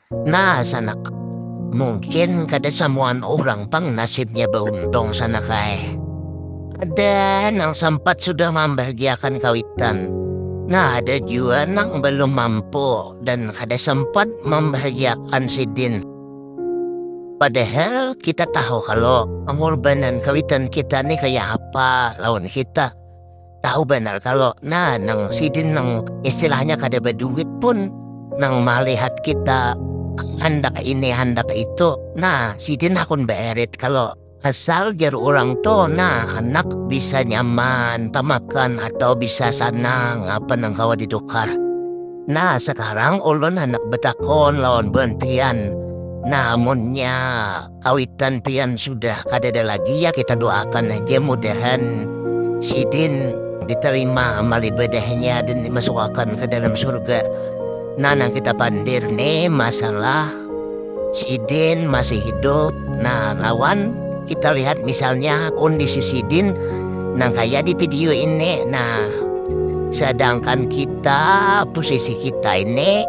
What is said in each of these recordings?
Nah sanak, mungkin kada samuaan urang pang nasibnya bauntung sanak ai. Ada nang sampat sudah mambahagiakan kawitan, nah ada jua nang balum mampu dan kada sampat mambahagiakan sidin. Padahal kita tahu kalo pangurbanan kawitan kita ni kaya apa lawan kita. tahu benar kalau nah nang sidin nang istilahnya kada berduit pun nang melihat kita handak ini handak itu nah sidin akun beerit kalau asal jar orang tuh nah anak bisa nyaman pemakan atau bisa sanang apa nang kawa ditukar nah sekarang ulun handak betakon lawan bantian nah munnya Kawitan pian sudah kadada lagi ya kita doakan aja mudahan sidin diterima amal ibadahnya dan dimasukakan ke dalam surga. Nah, nang kita pandir nih masalah sidin masih hidup. Nah, lawan kita lihat misalnya kondisi sidin nang kaya di video ini. Nah, sedangkan kita posisi kita ini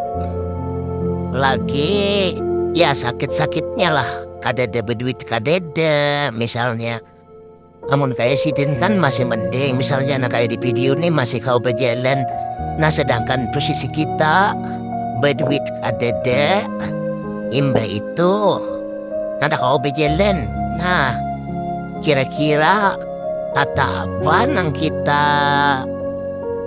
lagi ya sakit sakitnya lah kadada beduit kadada misalnya namun kaya sidin kan masih mending misalnya anak kaya di video ini masih kau berjalan nah sedangkan posisi kita beduit kadada imbah itu kada kau berjalan nah kira kira kata apa nang kita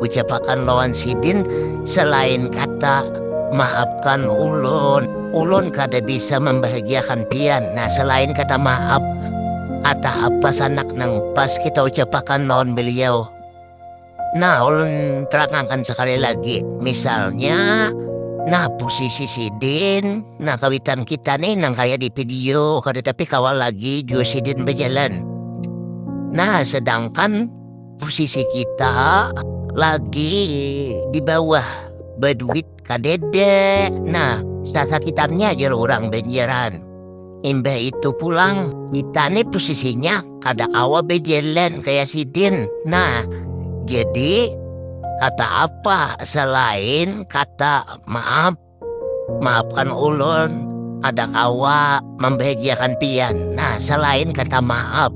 ucapakan lawan sidin selain kata maafkan ulun ulun kada bisa membahagiakan pian nah selain kata maaf kata apa sanak nang pas kita ucapakan lawan beliau. Nah, ulun terangakan sekali lagi. Misalnya, nah posisi sidin, nah kawitan kita nih nang kaya di video, kada tapi kawal lagi jua sidin bejalan. Nah, sedangkan posisi kita lagi di bawah, baduit kadede nah sasakitarnya aja orang benjeran imbah itu pulang kita nih posisinya kada kawa bejelan kayak sidin nah jadi kata apa selain kata maaf maafkan ulun kada kawa mambahagiakan pian. Nah, salain kata maap,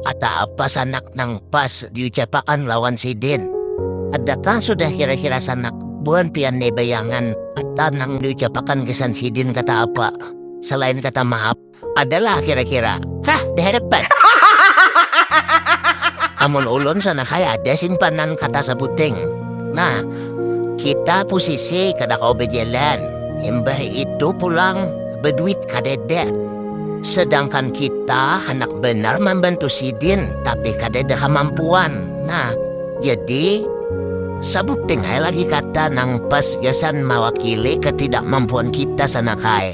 kata apa sanak nang pas diucapakan lawan sidin? Adakah sudah kira-kira sanak buhan pian ne bayangan kata nang diucapakan gasan sidin kata apa salain kata maap? Adalah kira-kira? Hah, diharapan. Amun ulun sanak ai ada simpanan kata sabuting. Nah. kita posisi kada kawa bejalan imbah itu pulang beduit kadada sedangkan kita handak banar mambantu sidin tapi kadada kamampuan nah jadi sabuting ai lagi kata nang pas gasan mawakili ketidakmampuan kita sana kae.